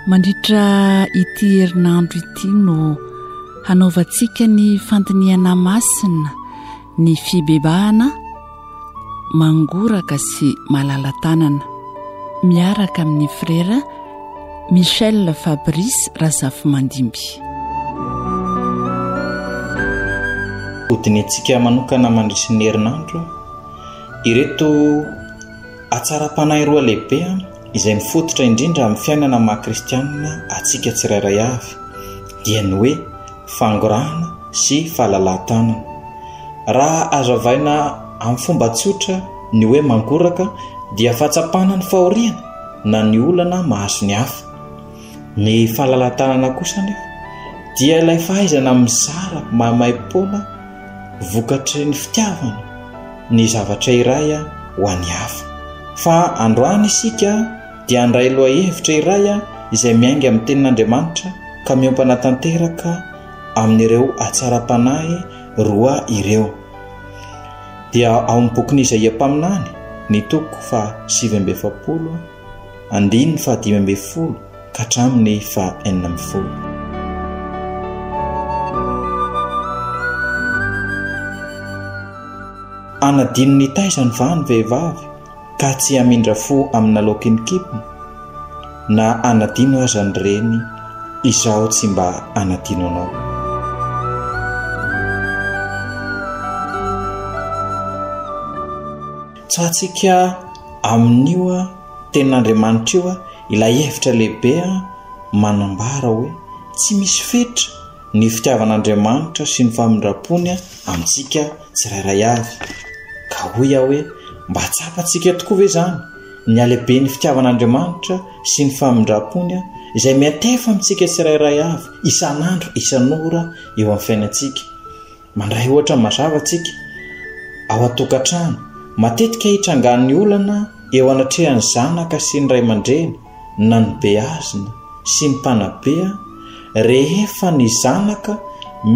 mandritra ity herinandro ity no hanaovantsika ny fandinihana masina Ny fibebahana mangoraka sy malala-tanana, miaraka amin'ny Frera Michel Fabrice Razafimandimby. Hodinihintsika manokana mandritry ny herinandro ireto hatsaram-panahy roa lehibe izay mifototra indrindra amin'ny fiainana maha-kristianina antsika tsirairay avy, dia ny hoe, fangorahana sy falalahan-tanana. Raha azavaina amin'ny fomba tsotra ny hoe mangoraka dia fahatsapana ny fahoriana na ny olana mahazo ny hafa. Ny falalahan-tanana kosa anefa dia ilay fahaizana mizara mahamaipoana vokatry ny fitiavana ny zavatra iray ho an'ny hafa. Fa androany isika dia handray lohahevitra iray izay miainga amin'ny Tenin'Andriamanitra ka miompana tanteraka amin'ireo hatsaram-panahy roa ireo. Dia ao amin'ny bokin'i Izaia mpaminany, ny toko faha sivy amby efapolo, andininy faha dimy amby folo ka hatramin'ny faha enina amby folo. Anadinon'ny taizany va ny vehivavy? ka tsy hamindra fo amina lokin kipm na anadino aza ny reny izaho tsy mba anadino anao. Tsatsika amin'io tenin'Andriamanitra io ilay hevitra lehibe manambara hoe tsy misy fetra ny fitiavan'Andriamanitra sy ny famindram-pony amintsika tsirairay avy. Ka hoy aho hoe, mba tsapantsika tokoa ve izany ny halehiben'ny fitiavan'Andriamanitra sy ny famindram-pony izay miantefa amintsika tsirairay avy isan'andro, isan'ora eo amin'ny fiainantsika? Mandray ohatra mazava isika ao an-tokantrano. Matetika itrangan'ny olana eo anatrehan'ny zanaka sy ny ray aman-dreny. na ny beazina sy ny mpanabe rehefa ny zanaka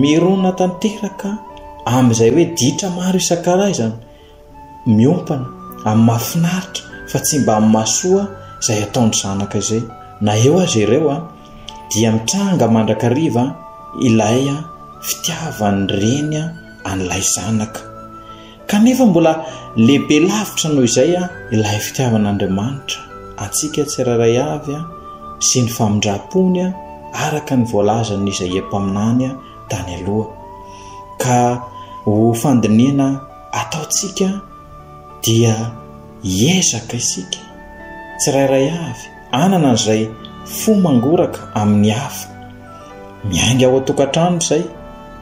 mirona tanteraka amin'izay hoe ditra maro isan-karazany miompana amin'ny mahafinaritra fa tsy mba amin'ny mahasoa izay ataon'ny zanaka izay na eo azy ireo a dia mitranga mandrakariva ilay a fitiavan'ny reny a an'ilay zanaka Kanefa mbola lehibe lavitra noho izay ilay fitiavan'Andriamanitra antsika tsirairay avy sy ny famindram-pony araka ny voalazan'i Izaia mpaminany tany aloha. Ka ho fandinihana ataontsika dia hiezaka isika tsirairay avy hanana an'izay fo mangoraka amin'ny hafa. Miainga ao an-tokantrano izay,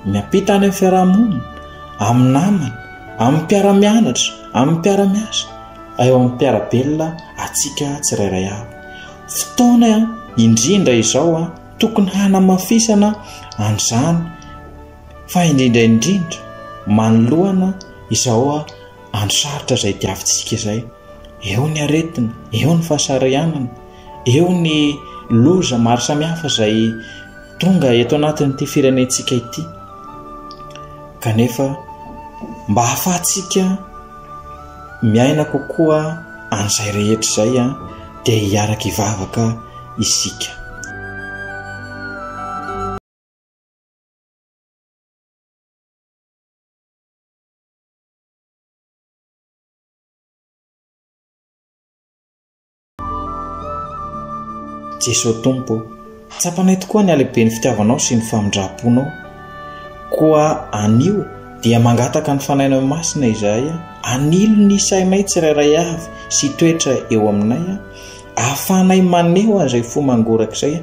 miampita any amin'ny fiarahamonina, amin'ny namana, amin'ny mpiara-mianatra, amin'ny mpiara-miasa, eo amin'ny mpiara-belona antsika tsirairay avy. Fotoana indrindra izao tokony hanamafisana an'izany fa indrindra indrindra manoloana izao andro sarotra izay diavintsika izay. eo ny aretina, eo ny fahasarianana, eo ny loza maro samihafa izay tonga eto anatin'ity firenentsika ity. Kanefa mba hahafahantsika miaina kokoa an'izay rehetra izay a dia hiaraka ivavaka isika. Jesoa Tompo ô, tsapanay tokoa ny halehiben'ny fitiavanao sy ny famindram-ponao. Koa anio dia mangataka ny fanainao masina izahay, anilo ny sainay tsirairay avy sy toetra eo aminay, ahafahanay maneho an'izay fo mangorak'izay